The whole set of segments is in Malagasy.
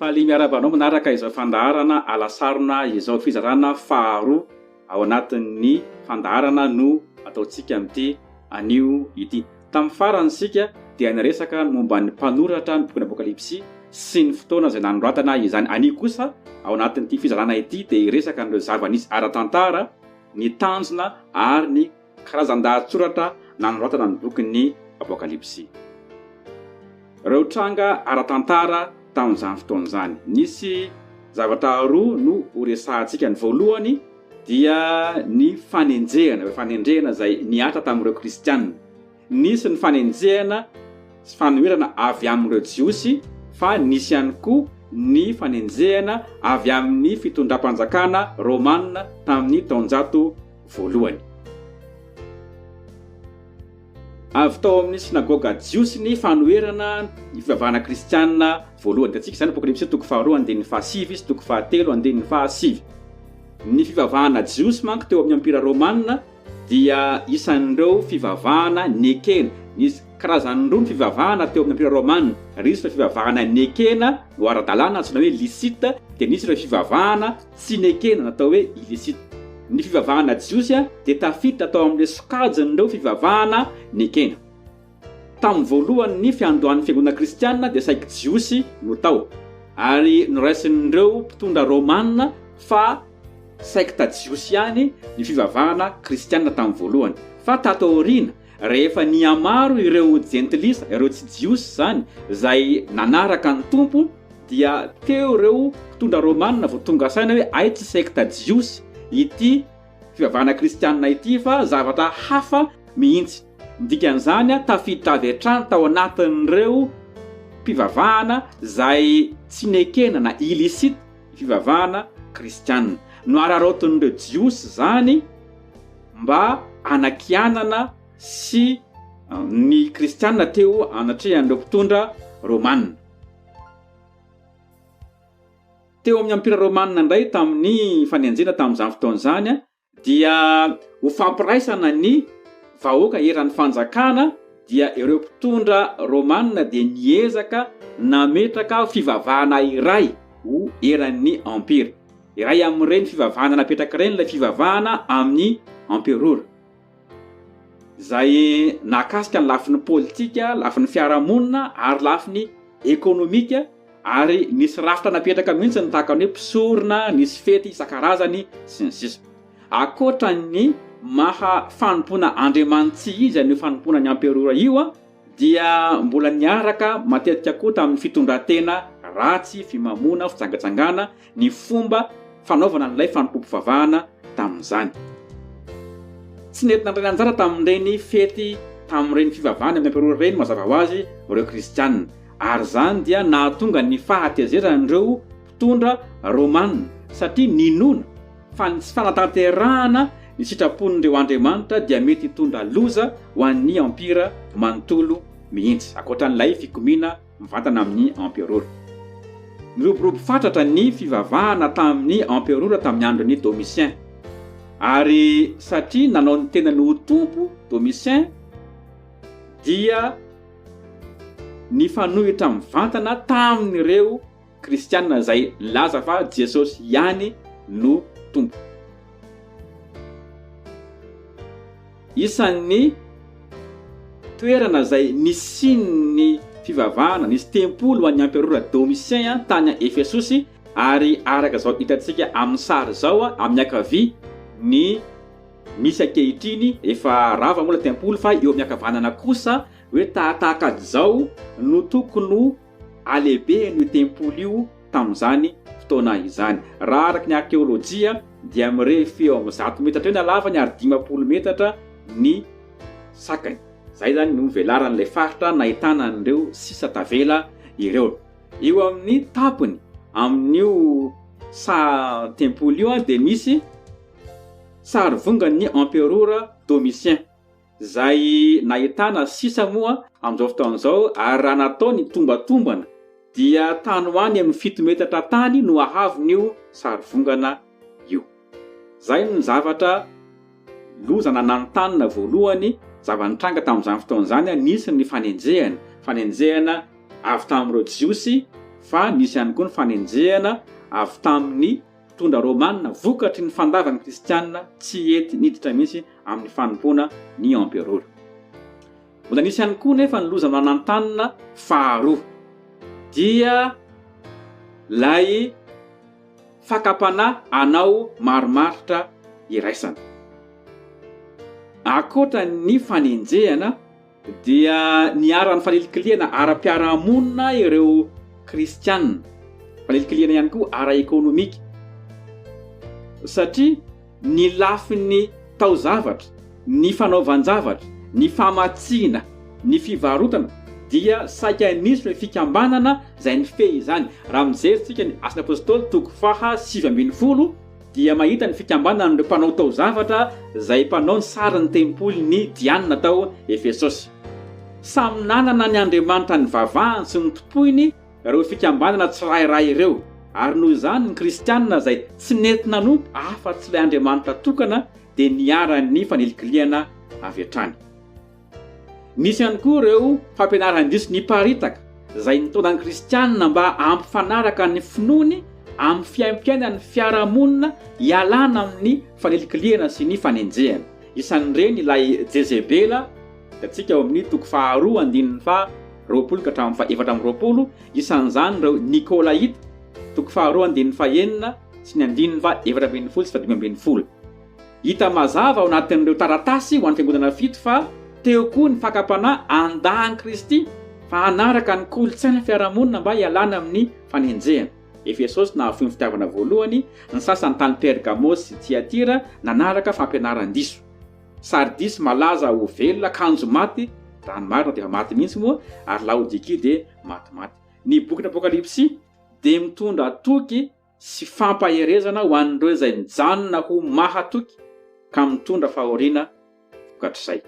Faly miarahaba anao manaraka izao fandaharana alasarona izao fizarana faharoa ao anatin'ny fandaharana no ataontsika amin'ity anio ity. Tamin'ny farany isika dia niresaka ny momba ny mpanoratra ny bokin'ny Apokalypsy sy ny fotoana izay nanoratana izany. Anio kosa ao anatin'ity fizarana ity dia hiresaka an'ireo zava-nisy ara-tantara, ny tanjona ary ny Karazan-dahatsoratra nanoratana ny bokin'ny Apokalypsy. Ireo tranga ara-tantara tamin'izany fotoana izany. Nisy zavatra roa no horesahantsika. Ny voalohany dia ny fanenjehana, ireo fanenjehana izay nihatra tamin'ireo kristiana. Nisy ny fanenjehana sy fanoherana avy amin'ireo Jiosy fa nisy ihany koa ny fanenjehana avy amin'ny fitondram-panjakana romana tamin'ny taonjato voalohany. Avy tao amin'ny synagoga jiosy ny fanoherana ny fivavahana kristiana voalohany. Hitantsika izany Apokalypsy toko faharoa andininy fahasivy sy toko fahatelo andininy fahasivy. Ny fivavahana jiosy manko teo amin'ny Empira romana dia isan'ireo fivavahana nekena. Nisy karazany roa ny fivavahana teo amin'ny Ampira Romana, risy ireo fivavahana nekena ho ara-dalàna antsoina hoe licite, dia nisy ireo fivavahana tsy nekena natao hoe illicite. Ny fivavahana jiosy dia tafiditra tao amin'ireo sokajin'ireo fivavahana nekena. Tamin'ny voalohany ny fiandohan'ny fiangonana kristiana dia saiky Jiosy no tao, ary noraisin'ireo mpitondra Romana fa sekta jiosy ihany ny fivavahana kristiana tamin'ny voalohany. Fa tato aoriana, rehefa nihamaro ireo jentilisa, ireo tsy Jiosy izany, izay nanaraka ny Tompo, dia teo ireo mpitondra Romana vao tonga saina hoe hay tsy sekta jiosy ity fivavahana kristiana ity fa zavatra hafa mihitsy. Ny dikan'izany, tafiditra avy hatrany tao anatin'ireo mpivavahana izay tsy nekena na illicite ny fivavahana kristiana. Nohararaotin'ireo Jiosy izany mba hanakianana sy ny kristiana teo anatrehan'ireo mpitondra romana. Teo amin'ny Ampira romana indray tamin'ny fanenjena tamin'izany fotoana izany, Dia ho fampiraisana ny vahoaka eran'ny fanjakana dia ireo mpitondra Romana dia niezaka nametraka fivavahana iray ho eran'ny Empira. Iray amin'ireny fivavahana napetraka ireny ilay fivavahana amin'ny Emperora. izay nahakasika ny lafiny politika, lafiny fiarahamonina ary lafiny ekonomika ary nisy rafitra napetraka mihitsy ny tahaka ny hoe mpisorona, nisy fety isan-karazany sy ny sisa. Ankoatra ny maha fanompoana andriamanitsy izy an'io fanompoana ny amperora io, Dia mbola niaraka matetika koa tamin'ny fitondran-tena ratsy, fimamoana, fijangajangana ny fomba fanaovana an'ilay fanompoam-pivavahana tamin'izany. Tsy nety nandray anjara tamin'ireny fety tamin'ireny fivavahana amin'ny emperora ireny mazava ho azy ireo Kristiana, ary izany dia nahatonga ny fahatezeran'ireo mpitondra romana satria ninoana, Fa ny tsy fanatanterahana ny sitrapon'ireo andriamanitra dia mety hitondra loza ho an'ny empira manontolo mihitsy, ankoatran'ilay fikomiana mivantana amin'ny emperora. Niroborobo fatratra ny fivavahana tamin'ny emperora tamin'ny andron'i Domitien, ary satria nanao ny tenany ho tompo Domitien, dia nifanohitra mivantana tamin'ireo Kristiana izay milaza fa Jesosy ihany no Tompo. Isan'ny toerana izay nisian'ny fivavahana, nisy tempoly ho an'ny emperora Domitien tany Efesosy, ary araka izao hitantsika amin'ny sary izao amin'ny ankavia ny misy ankehitriny, efa rava moa ilay tempoly fa eo amin'ny ankavanana kosa hoe tahatahaka azy izao no tokony ho Halehibehan' io tempoly io tamin' izany fotoana izany. Raha araka ny arkeôlôjia dia mirefy eo amin' ny zato metatra eo ny halavany ary dimampolo metatra ny sakany. Izay izany no velaran' ilay faritra nahitana an' ireo sisa tavela ireo. Eo amin' ny tampony amin' io saha tempoly io dia misy sarivongan' ny emperora Domitien. Izay nahitana sisa moa amin'izao fotoana izao ary raha natao ny tombatombana dia tany ho any amin'ny fito metatra tany no hahavon'io sarivongana io. Izay no zavatra loza nananontanona voalohany, zava-nitranga tamin'izany fotoana izany, nisy ny fanenjehana, fanenjehana avy tamin'ireo Jiosy fa nisy ihany koa ny fanenjehana avy tamin'ny. Mpitondra Romana vokatry ny fandavan' ny Kristiana tsy hety niditra mihitsy amin' ny fanompoana ny emperora. Mbola nisy ihany koa nefa ny loza manantanina faharoa, dia ilay fakam-panahy hanao marimaritra iraisana. Ankoatra ny fanenjehana, Dia niharan'ny fanilikilihana ara-piarahamonina ireo Kristianina, fanilikilihana ihany koa ara-ekonomika, satria ny lafiny taozavatra, ny fanaovan-javatra, ny famatsiana, ny fivarotana dia saika nisy ilay fikambanana izay nifehy izany. Raha mijery isika ny Asan'ny Apostoly toko faha sivy ambin'ny folo, dia mahita ny fikambanan'ireo mpanao taozavatra izay mpanao ny sarin'ny tempolin'i Diana tao Efesosy. Samy nanana ny andriamanitra nivavahany sy notompoiny ireo fikambanana tsirairay ireo, ary noho izany ny Kristianina izay tsy nety nanompo afa-tsy ilay Andriamanitra tokana dia niharan'ny fanilikilihana avy hatrany. Nisy ihany koa ireo fampianaran-diso niparitaka, izay nitaona ny Kristianina mba hampifanaraka ny finoany amin'ny fiaimpiainan'ny fiarahamonina hialana amin'ny fanilikilihana sy ny fanenjehana. Isan'ireny ilay Jezebela, hitantsika ao amin'ny toko faharoa andininy faha roapolo ka hatramin'ny faha efatra amby roapolo, isan'izany ireo Nikolaita, toko faharoa andininy faha enina sy ny andininy faha efatra ambin'ny folo sy faha dimy ambin'ny folo. Hita mazava ao anatin'ireo taratasy ho an'ny fiangonana fito fa teo koa ny fakam-panahy handà an'i Kristy fa hanaraka ny kolontsain'ny fiarahamonina mba hialana amin'ny fanenjehana. Efesosy nahafoy ny fitiavana voalohany, ny sasany tany Pergamosy sy Tiatira nanaraka fampianaran-diso. Sardisy malaza ho velona kanjo maty, raha ny marina dia efa maty mihitsy moa, ary Laodikia dia matimaty. Ny bokin'ny Apokalypsy dia mitondra toky sy fampaherezana ho an'ireo izay mijanona ho mahatoky ka mitondra fahoriana vokatr'izay.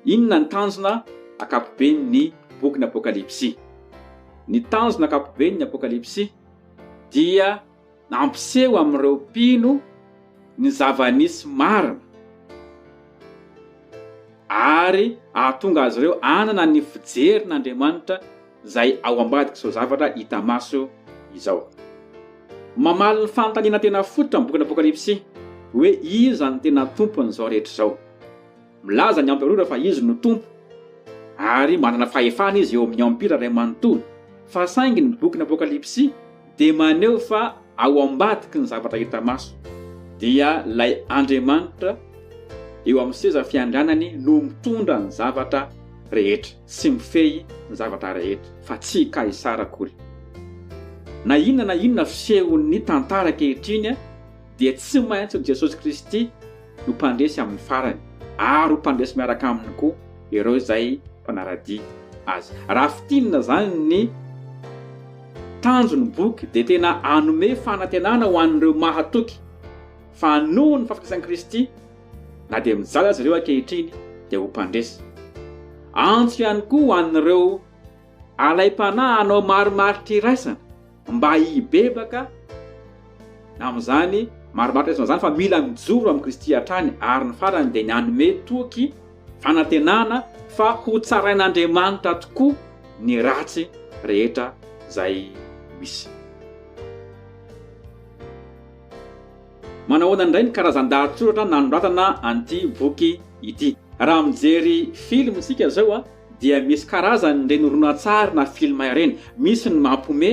Inona ny tanjona ankapoben'ny bokin'ny Apokalypsy? Ny tanjona ankapoben'ny Apokalypsy dia nampiseho amin'ireo mpino ny zava-nisy marina ary hahatonga azy ireo hanana ny fijerin'Andriamanitra izay ao ambadik'izao zavatra hita maso izao. Mamaly ny fanontaniana tena fototra amin'ny bokin'ny Apokalypsy hoe iza no tena tompon'izao rehetra izao. Milaza ny Emperora fa izy no tompo ary manana fahefana izy eo amin'ny Empira iray manontolo, fa saingy ny bokin'ny Apokalypsy dia maneho fa ao ambadiky ny zavatra hita maso, dia ilay Andriamanitra eo amin'ny seza fiandrianany no mitondra ny zavatra rehetra sy mifehy ny zavatra rehetra, fa tsy i Kaisara akory. Na inona na inona fisehon'ny tantara ankehitriny, dia tsy maintsy ho Jesosy Kristy no mpandresy amin'ny farany, ary ho mpandresy miaraka Aminy koa ireo izay mpanaradia azy. Raha fintinina izany ny tanjon'ny boky dia tena hanome fanantenana ho an'ireo mahatoky fa noho ny fahafatesan'i Kristy, na dia mijaly aza ireo ankehitriny, dia ho mpandresy. Antso ihany koa ho an'ireo alaim-panahy hanao marimaritra iraisana. Mba hibebaka amin'izany marimaritra izany izany fa mila mijoro amin'i Kristy hatrany ary ny farany dia ny hanome toky fanantenana fa hotsarain'Andriamanitra tokoa ny ratsy rehetra izay misy. Manahoana indray ny karazan-dahatsoratra nanoratana an'ity boky ity? Raha mijery film isika izao, dia misy karazany ireny horonantsary na film ireny, misy ny mampome,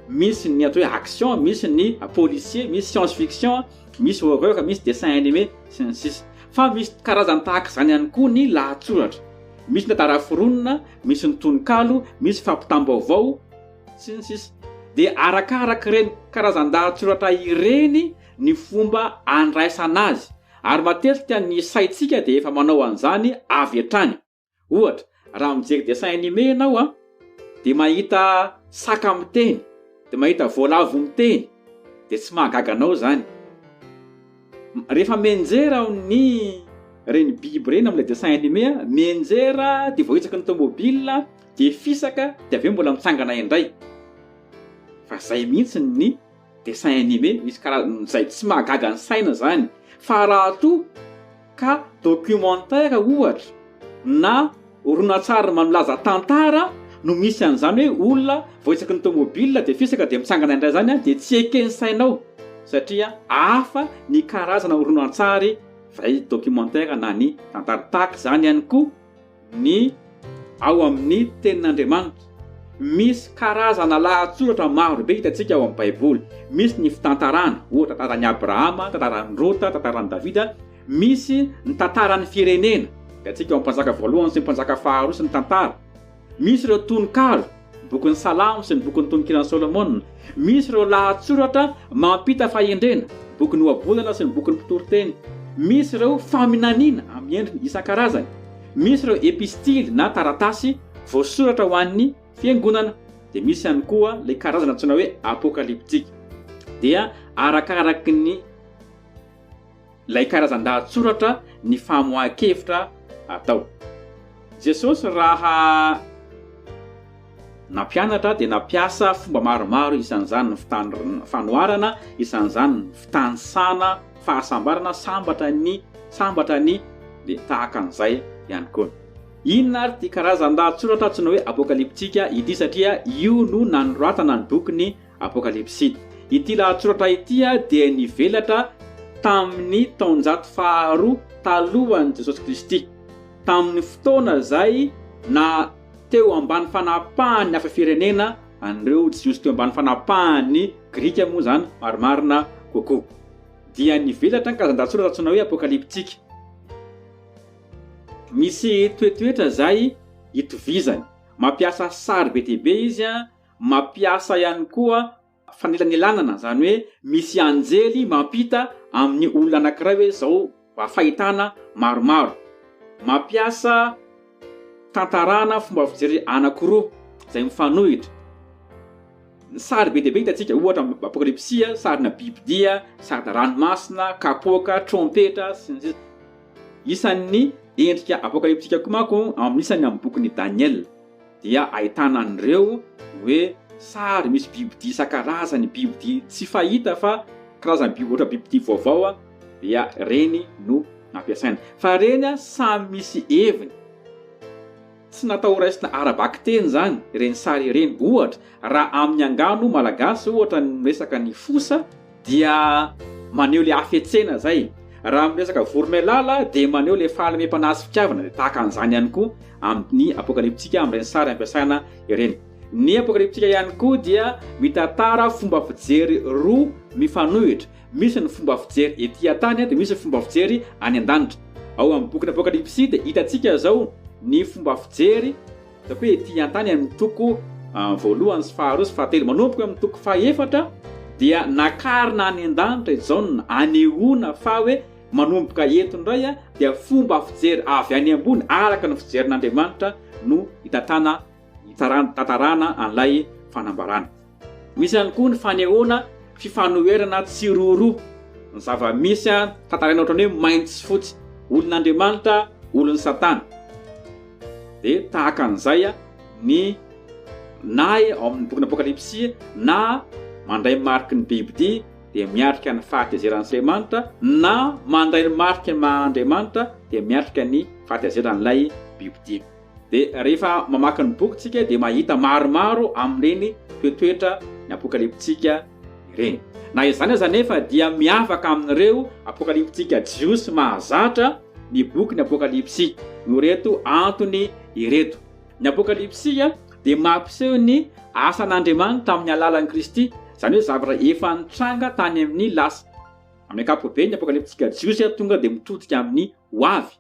misy ny atao hoe action, misy ny policier, misy science fiction, misy horreur, misy dessin animé sy ny sisa Fa misy karazany tahaka izany ihany koa ny lahatsoratra, misy ny tantara foronina, misy ny tononkalo, misy fampitam-baovao sy ny sisa Dia arakaraka ireny karazan-dahatsoratra ireny ny fomba andraisana azy ary matetika ny saintsika dia efa manao an'izany avy hatrany. Ohatra, raha mijery dessin anime ianao an, dia mahita saka miteny, dia mahita voalavo miteny, dia tsy mahagaga anao izany. Rehefa mianjera aho ny ireny biby ireny amin'ilay dessin anime, mianjera dia vao hitsaky ny tomobile dia fisaka dia avy eo mbola mitsangana indray. Fa izay mihitsy ny. Dessin animé misy karazany izay tsy mahagaga ny saina izany fa raha toa ka documentaire ohatra na horonantsary manolaza tantara no misy an'izany hoe olona voaitsaky ny tomobil dia fisaka dia mitsangana indray izany dia tsy eken'ny sainao satria hafa ny karazana horonantsary izay documentaire na ny tantara tahaka izany ihany koa ny ao amin'ny Tenin'Andriamanitra. Misy karazana lahatsoratra maro be hitantsika ao amin'ny Baiboly. Misy ny fitantarana, ohatra, tantaran'i Abrahama, tantaran'i Rota, tantaran'i Davida. Misy ny tantaran'ny firenena, hitantsika ao amin'ny Mpanjaka voalohany sy ny Mpanjaka faharoa sy ny Tantara. Misy ireo tononkalo. Ny bokin'ny Salamo sy ny bokin'ny Tonokiran'i Solomona. Misy ireo lahatsoratra mampita fahendrena, bokin'ny Ohabolana sy ny bokin'ny Mpitory teny. Misy ireo faminaniana amin'ny endriny isan-karazany. Misy ireo epistily na taratasy voasoratra ho an'ny fiangonana. Dia misy ihany koa ilay karazana antsoina hoe Apokalyptika. Dia arakaraky ny. ilay karazan-dahatsoratra ny famoahan-kevitra atao. Jesosy raha nampianatra dia nampiasa fomba maromaro isan'izany ny fanoharana, isan'izany ny fitanisana fahasambarana, sambatra ny, sambatra ny, dia tahaka an'izay ihany koa. Inona ary ity karazan-dahatsoratra antsoina hoe apokalyptika ity satria io no nanoratana ny bokin'i Apokalypsy. Ity lahatsoratra ity dia nivelatra tamin' ny taonjato faharoa talohan' i Jesosy Kristy, tamin' ny fotoana izay na teo ambany fanapahan' ny hafa firenena an'ireo Jiosy teo ambany fanapahan' ny Grika moa izany marimarina kokoa, dia nivelatra ny karazan-dahatsoratra antsoina hoe apokalyptika. Misy toetoetra izay itovizany. Mampiasa sary be dia be izy Mampiasa ihany koa fanelanelanana, izany hoe misy anjely mampita amin'ny olona anankiray hoe izao mba fahitana maromaro. Mampiasa fitantarana fomba fijery anankiroa izay mifanohitra. Ny sary be dia be hitantsika, ohatra amin'ny Apokalypsy, sarina bibidia, sarina ranomasina, kapoaka, trompetra, sy ny sisa Isan'ny endrika apokalyptika koa manko amin'ny isany amin'ny bokin'i Daniela. dia ahitana an'ireo hoe sary misy bibidia isan-karazany, bibidia tsy fahita fa karazana biby ohatra bibidia vaovao dia ireny no nampiasaina. Fa ireny samy misy heviny. Tsy natao ho raisina ara-bakiteny izany ireny sary ireny. Ohatra, raha amin'ny angano malagasy ohatra ny resaka ny fosa, dia maneho ilay hafetsena izay. Raha miresaka vorona ilala dia maneho ilay fahalemem-panahy sy fitiavana, dia tahaka an'izany ihany koa amin'ny Apokalyptika amin'ireny sary ampiasaina ireny. Ny Apokalyptika ihany koa dia mitantara fomba fijery roa mifanohitra, misy ny fomba fijery ety an-tany dia misy ny fomba fijery any an-danitra. Ao amin'ny bokin'ny Apokalypsy dia hitantsika izao ny fomba fijery Ataoko hoe ety an-tany amin'ny toko voalohany sy faharoa sy fahatelo. Manomboka amin'ny toko fahefatra dia nakarina any an-danitra i Jaona hanehoana fa hoe manomboka eto indray dia fomba fijery avy any ambony araka ny fijerin'Andriamanitra no hitantanana, hitantarana an'ilay fanambarana. Misy ihany koa ny fanehoana fifanoherana tsiroaroa ny zava-misy tantaraina ohatran'ny hoe mainty sy fotsy, olon'Andriamanitra, olon'i Satana. Dia tahaka an'izay ny na ao amin'ny bokin'ny Apokalypsy na mandray ny mariky ny bibidia dia miatrika ny fahatezeran'Andriamanitra na mandray ny mariky ny maha Andriamanitra dia miatrika ny fahatezeran'ilay bibidia. Dia rehefa mamaky ny boky tsika dia mahita maromaro amin'ireny toetoetra ny apokalipsika ireny. Na izany aza anefa dia miavaka amin'ireo apokalipsika jiosy mahazatra ny bokin'ny apokalipsy noho ireto antony ireto. Ny apokalipsy dia mampiseho ny asan'Andriamanitra tamin'ny alalan'i Kristy, izany hoe zavatra efa nitranga tany amin'ny lasa. Amin'ny ankapobeny ny apokalipsika jiosy tonga dia mitodika amin'ny hoavy.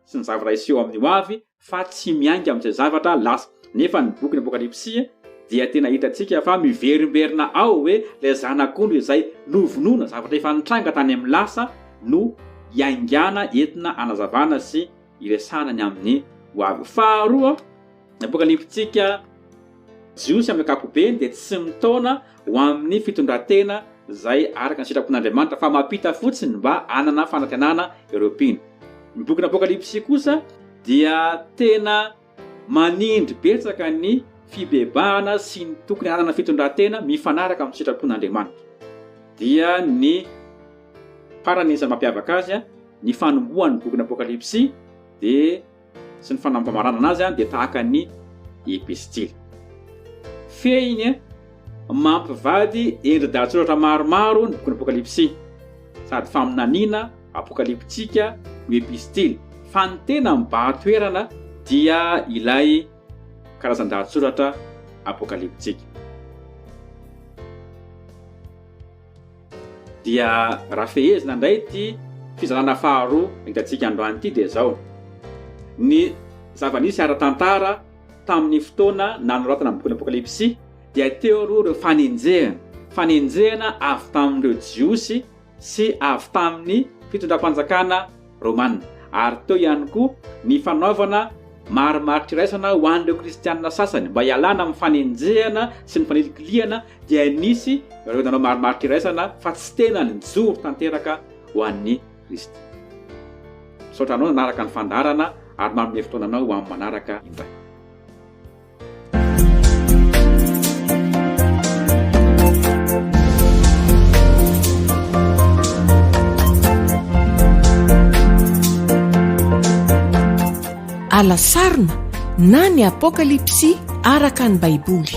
sy ny zavatra hiseho amin'ny hoavy fa tsy miainga amin'izay zavatra lasa. Nefa ny bokin'ny Apokalypsy dia tena hitantsika fa miverimberina ao hoe ilay Zanak'ondry izay novonoina, zavatra efa nitranga tany amin'ny lasa, no iaingana entina hanazavana sy hiresahana ny amin'ny hoavy. Faharoa, Ny Apokalypsintsika Jiosy amin'ny ankapobeny dia tsy mitaona ho amin'ny fitondran-tena izay araka ny sitrapon'Andriamanitra fa mampita fotsiny mba hanana fanantenana ireo mpino. Ny bokin'ny Apokalypsy kosa dia tena manindry betsaka ny fibebahana sy ny tokony hanana fitondran-tena mifanaraka amin'ny sitrapon'Andriamanitra. Dia ny farany isan'ny mampiavaka azy, ny fanombohan'ny bokin'ny Apokalypsy dia. sy ny fanamamaranana azy dia tahaka ny epistily. Fehiny mampivady endri-dahatsoratra maromaro ny bokin'ny Apokalypsy. Sady faminaniana apokalyptika no epistily, fa ny tena mibahan-toerana dia ilay karazan-dahatsoratra apokalyptika. Dia raha fehezina indray ity fizarana faharoa hitantsika androany ity dia izao, ny zava-nisy ara-tantara tamin'ny fotoana nanoratana ny bokin'ny Apokalypsy dia teo aloha ireo fanenjehana, fanenjehana avy tamin'ireo Jiosy sy avy tamin'ny fitondram-panjakana romana, ary teo ihany koa ny fanaovana marimaritra iraisana ho an'ireo kristiana sasany mba hialana amin'ny fanenjehana sy ny fanilikilihana dia nisy ireo nanao marimaritra iraisana fa tsy tena nijoro tanteraka ho an'i Kristy. Misaotra anao nanaraka ny fandaharana ary manome fotoana anao ho amin'ny manaraka indray. Ala sarona na ny Apokalypsy araka ny Baiboly.